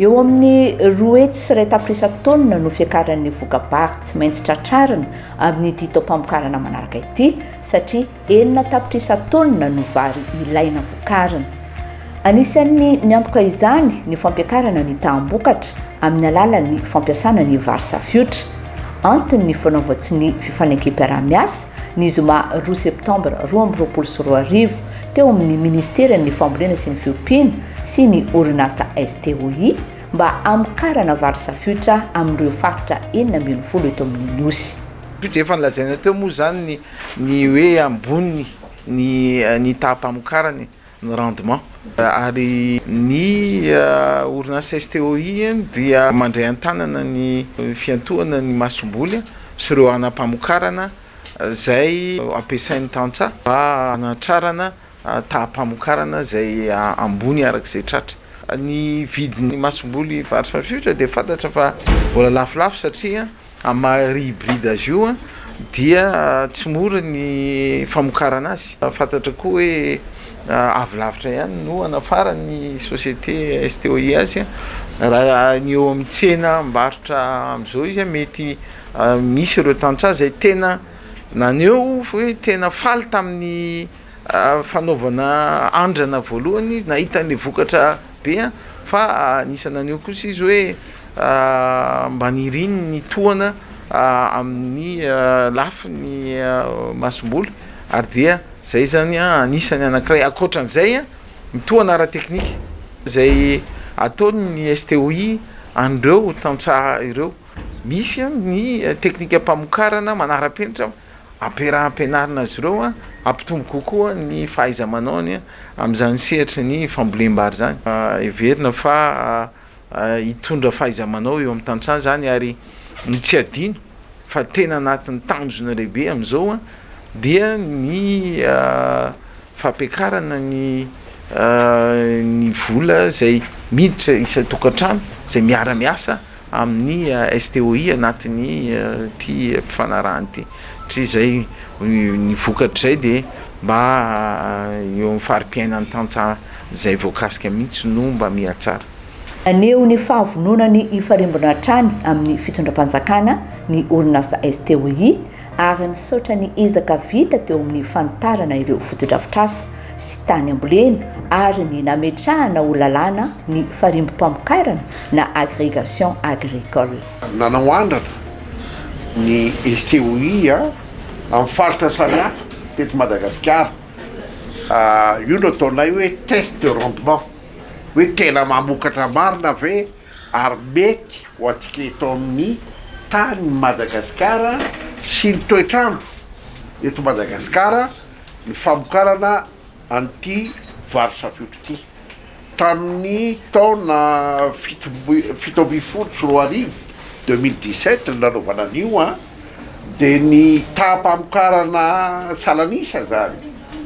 Eo amin'ny roa hetsy sy iray tapitrisa taonina no fiakaran'ny voka-bary tsy maintsy tratrarina amin'ity taom-pamokarana manaraka ity satria enina tapitrisa taonina no vary ilaina vokarina. Anisan'ny miantoka izany ny fampiakarana ny taham-bokatra amin'ny alalan'ny fampiasana ny vary safiotra. Antony ny fanaovan-tsonia fifanekem-piaraha-miasa, ny zoma roa septambra roa amby roapolo sy roa arivo, teo amin'ny Ministeran'ny Fambolena sy ny Fiompiana sy ny orinasa STOI mba hamokarana vary safiotra amin'ireo faritra enina ambin'ny folo eto amin'ny Nosy. Dia efa nolazaina teo moa izany ny hoe ambony ny taham-pamokarany, ny rendement. Ary ny orinasa STOI dia mandray an-tanana ny fiantohana ny masomboly sy ireo hanam-pamokarana. izay ampiasain'ny tantsaha mba hanatrarana taham-pamokarana izay ambony araka izay tratra. Ny vidin'ny masomboly varotra mafilotra dia fantatra fa mbola lafolafo satria amin'ny maha riz hybride azy io dia tsy mora ny famokarana azy. Fantatra koa hoe avy lavitra ihany no hanafaran'ny société STOI azy raha ny eo amin'ny tsena mivarotra amin'izao izy mety Misy ireo tantsaha izay tena naneho hoe tena faly tamin'ny fanaovana andrana voalohany izy, nahita an'ilay vokatra be an! fa anisan'ny naneho kosa izy hoe mba niriny ny tohana amin'ny lafiny masomboly ary dia izay zany anisan'ny anankiray, ankoatran'izay ny tohana ara-teknika izay ataon'ny STOI an'ireo tantsaha ireo. Misy ny teknikam-pamokarana manara-penitra ampiaraha ampianarina azy ireo hampitombo kokoa ny fahaiza-manaony amin'izany sehatry ny fambolem-bary izany. Heverina fa hitondra fahaiza-manao eo amin'ny tantsaha izany ary ny tsy adino fa tena anatin'ny tanjona lehibe amin'izao dia ny fampiakarana ny ny vola izay miditra isan-tokantrano izay miara-miasa amin'ny STOI anatin'ity fifanarahana ity, satria izay ny vokatr'izay dia mba eo amin'ny fari-piainan'ny tantsaha izay voakasika mihitsy no mba mihatsara. Naneho ny fahavononany hifarimbona hatrany amin'ny fitondram-panjakana ny orinasa STOI ary misaotra ny ezaka vita teo amin'ny fanitarana ireo fotodrafitrasa sy tany ambolena ary ny nametrahana ho lalàna ny farimbom-pamokarana na agrégation agricole. Nanao andrana ny STOI amin'ny faritra samihafa teto Madagasikara. Io no ataonay hoe test de rendement, hoe tena mamokatra marina ve ary mety ho antsika eto amin'ny tanin'i Madagasikara sy ny toetr'andro eto Madagasikara ny famokarana an'ity vary safoiotra ity. Tamin'ny taona fito ambin'ny folo sy roa arivo, deux mille dix sept, no nanaovana an'io. dia ny taham-pamokarana salan'isa izany,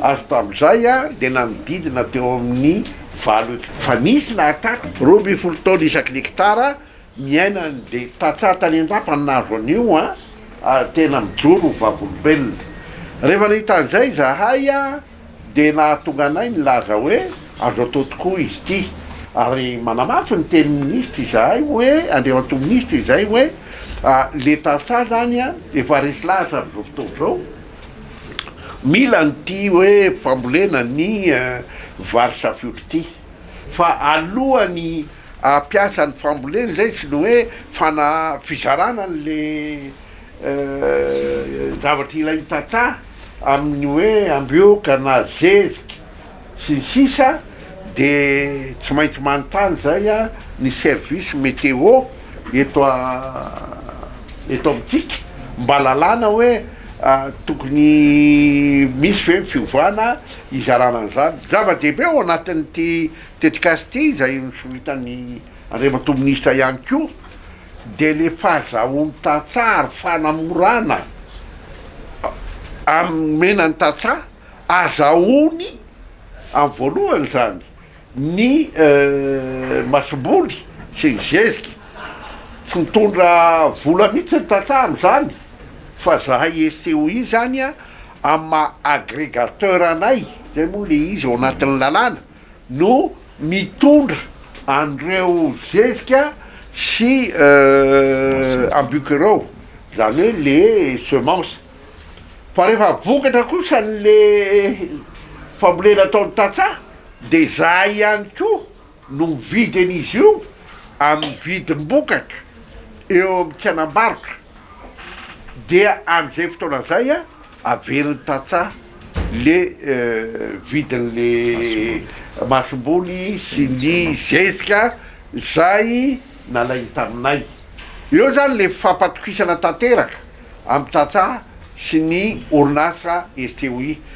ary tamin'izay dia nanodidina teo amin'ny valo hekitara. Fa nisy lahataka roa ambin'ny folo taona isaky ny hekitara niainany, dia tantsaha tany an-dapa ny nahazo an'io, ary tena mijoro ho vavolombelona. Rehefa nahita an'izay izahay, dia nahatonga anay nilaza hoe azo atao tokoa izy ity ary manamafy ny tenin'ny minisitra izahay hoe, Andriamatoa minisitra izay hoe le tantsaha izany efa resy lahatra amin'izao fotoana izao, mila an'ity hoe fambolena ny vary safiotra ity fa alohan'ny hampiasa ny fambolena izay sy ny hoe fizarana an'le zavatra ilay tantsaha amin'ny hoe ambihoka na zezika sy ny sisa dia tsy maintsy manontany izay ny service météo eto eto amintsika mba lalàna hoe tokony misy ve ny fiovana hizarana an'izany. Zava-dehibe ao anatin'ity tetikasa ity izay nosoritany Andriamatoa Minisitra ihany koa. dia ny fahazahoan-tantsaha ary fanamorana amin'ny nomena ny tantsaha, ahazahoany amin'ny voalohany izany ny masomboly sy ny zezika, tsy mitondra vola mihitsy ny tantsaha amin'izany fa zahay SCOI izany amin'ny maha agregateur anay, izay moa ilay izy ao anatin'ny lalàna. no mitondra an'ireo zezika sy ambioko ireo, izany hoe le semence, fa rehefa vokatra kosa le fambolena ataon'ny tantsaha de izahay ihany koa no mividy an'izy io amin'ny vidim-bokatra eo amin'ny tsenam-barotra dia amin'izay fotoana izay a. averiny tantsaha le vidin'le masomboly sy ny zezika izay nalainy taminay. Eo izany le fifampatokisana tanteraka amin'ny tantsaha sy ny orinasa STOI.